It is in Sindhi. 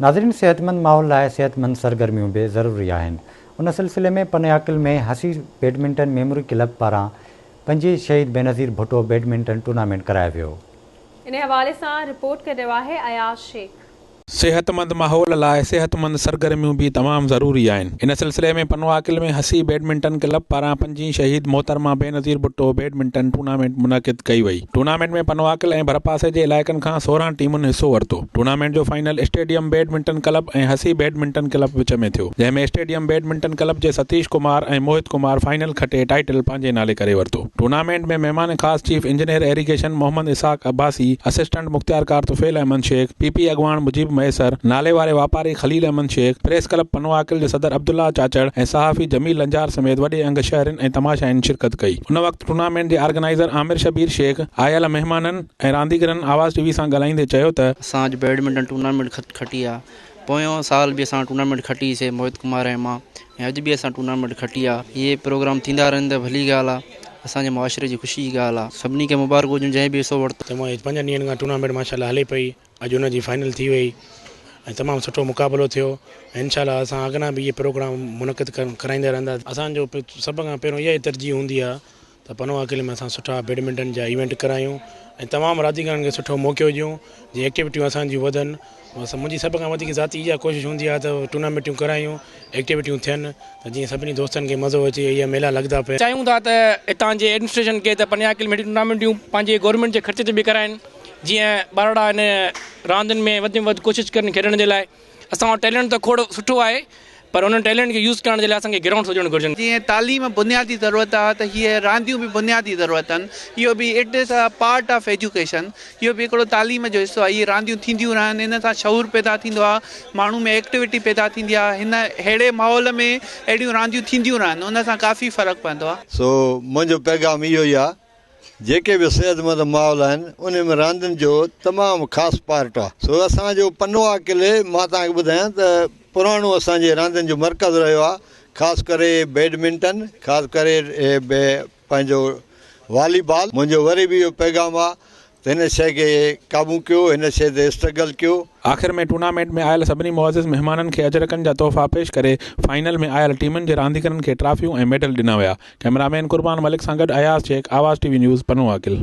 ناظرين صحتمند ماحول لاء صحتمند سرگرميون به ضروري آهن ان سلسلي ۾ پنياڪل ۾ هسي بيڊمنٽن ميموري ڪلب پاران پنجي شهيد بينظير ڀٽو بيڊمنٽن ٽورنامينٽ ڪرايو ويو. انهي حوالي سان رپورٽ ڪري رهيو آهي اياز شيخ. صحتمند ماحول لاء صحتمند سرگرميون به تمام ضروري آهن ان سلسلي ۾ پنواڪل ۾ هسي بيڊمنٽن ڪلب پاران پنجي شهيد محترمه بينظير ڀٽو بيڊمنٽن ٽورنامينٽ منعقد ڪئي وئي ٽورنامينٽ ۾ پنواڪل ۽ ڀرپاسي جي علائقن کان سورهن ٽيمن حصو ورتو. ٽورنامينٽ جو فائنل اسٽيڊيم بيڊمنٽن ڪلب ۽ حسي بيڊمنٽن ڪلب وچ ۾ ٿيو، جنهن ۾ اسٽيڊيم بيڊمنٽن ڪلب جي ستيش ڪمار ۽ موهت ڪمار فائنل کٽي ٽائيٽل پنهنجي نالي ڪري ورتو. ٽورنامينٽ ۾ مهمان خاص chief engineer irrigation Muhammad Ishaq Abbasi, assistant مختيارڪار طفيل احمد شيخ، پي پي اڳواڻ مجيب مهيسر، ناليواري واپاري خليل احمد شيخ، پريس ڪلب پنواڪل جي صدر عبدالله چاچڙ ۽ صحافي جميل لنجار سميت وڏي انگ شهرين ۽ تماشائين شرڪت ڪئي. ان وقت ٽورنامينٽ جي آرگنائيزر عامر شبير شيخ آيل مهمانن، ۽ رانديگرن آواز ٽي وي سان ڳالهائيندي چيو ته. اسان اڄ بيڊمنٽن ٽورنامينٽ کٽي آهي، پويون سال به اسان ٽورنامينٽ کٽي سي موهت ڪمار ۽ مان ۽ اڄ به اسان ٽورنامينٽ کٽي آهي، اهي پروگرام ٿيندا رهن ته ڀلي ڳالهه آهي، اسان جي معاشري جي خوشي جي ڳالهه آهي، سڀني کي مبارڪون هجن جنهن به حصو ورتو. تمام اڄ پنجن ڏينهن کان ٽورنامينٽ ماشاء الله هلي پئي اڄ ان جي فائنل ٿي وئي ۽ تمام سٺو مقابلو ٿيو ۽ انشاء الله اسان اڳنا به اهي پروگرام منعقد ڪرائيندا رهنداسين. اسان جو سڀ کان پهريون اها ئي ترجيح هوندي آهي ته پنهون آڪلي ۾ اسان سٺا بيڊمنٽن جا ايونٽ ڪرايون ۽ تمام رانديگرن کي سٺو موقعو ڏيون جي ايڪٽيوٽيون اسان جون وڌن بس منهنجي سڀ کان وڌيڪ ذاتي اها ڪوشش هوندي آهي ته ٽورنامينٽون ڪرايون ايڪٽيوٽيون ٿين ته جيئن سڀني دوستن کي مزو اچي اهي ميلا لڳندا پيا چاهيون ٿا ته هتان جي ايڊمنسٽريشن کي ته پنهون آڪلي ۾ اهڙيون ٽورنامينٽون پنهنجي گورنمينٽ جي خرچ تي به ڪرائين جيئن ٻارڙا هن راندين ۾ وڌ ۾ وڌ ڪوشش ڪرن کيڏڻ جي لاء اسان وٽ ٽيلنٽ ته کوڙ سٺو آهي پر ان ٽيلنٽ کي يوز ڪرڻ جي لاء اسان کي گرائونڊس هجڻ گهرجن. جيئن تعليم بنيادي ضرورت آ ته هيء رانديون به بنيادي ضرورت آهن. اهو به it is a part of education. اهو به هڪڙو تعليم جو حصو آهي. اهي رانديون ٿينديون رهن ان سان شعور پيدا ٿيندو آ. ماڻهو ۾ ايڪٽيوٽي پيدا ٿيندي آ. هن ههڙي ماحول ۾ اهڙيون رانديون ٿينديون رهن ان سان ڪافي فرق پوندو آ. سو منهنجو پيغام اهو ئي آ جيڪي به صحتمند ماحول آهن انهي ۾ راندين جو تمام خاص پارٽ آهي سو اسان جو پنوهه قلعي مان توهان کي ٻڌايان ته پراڻو اسان جي راندين جو مرڪز رهيو آهي خاص ڪري بيڊمنٽن خاص ڪري پنهنجو والي بال منهنجو وري به اهو پيغام آهي ته هن شيء کي قابو ڪيو، هن شيء تي اسٽرگل ڪيو. آخر ۾ ٽورنامينٽ ۾ آيل سڀني معزز مهمانن کي اجرڪن جا تحفا پيش ڪري فائنل ۾ آيل ٽيمن جي رانديگرن کي ٽرافيون ۽ ميڊل ڏنا ويا. ڪئميرامين قربان ملڪ سان گڏ Ayaz Shaikh Awaz T V news Pano Aqil.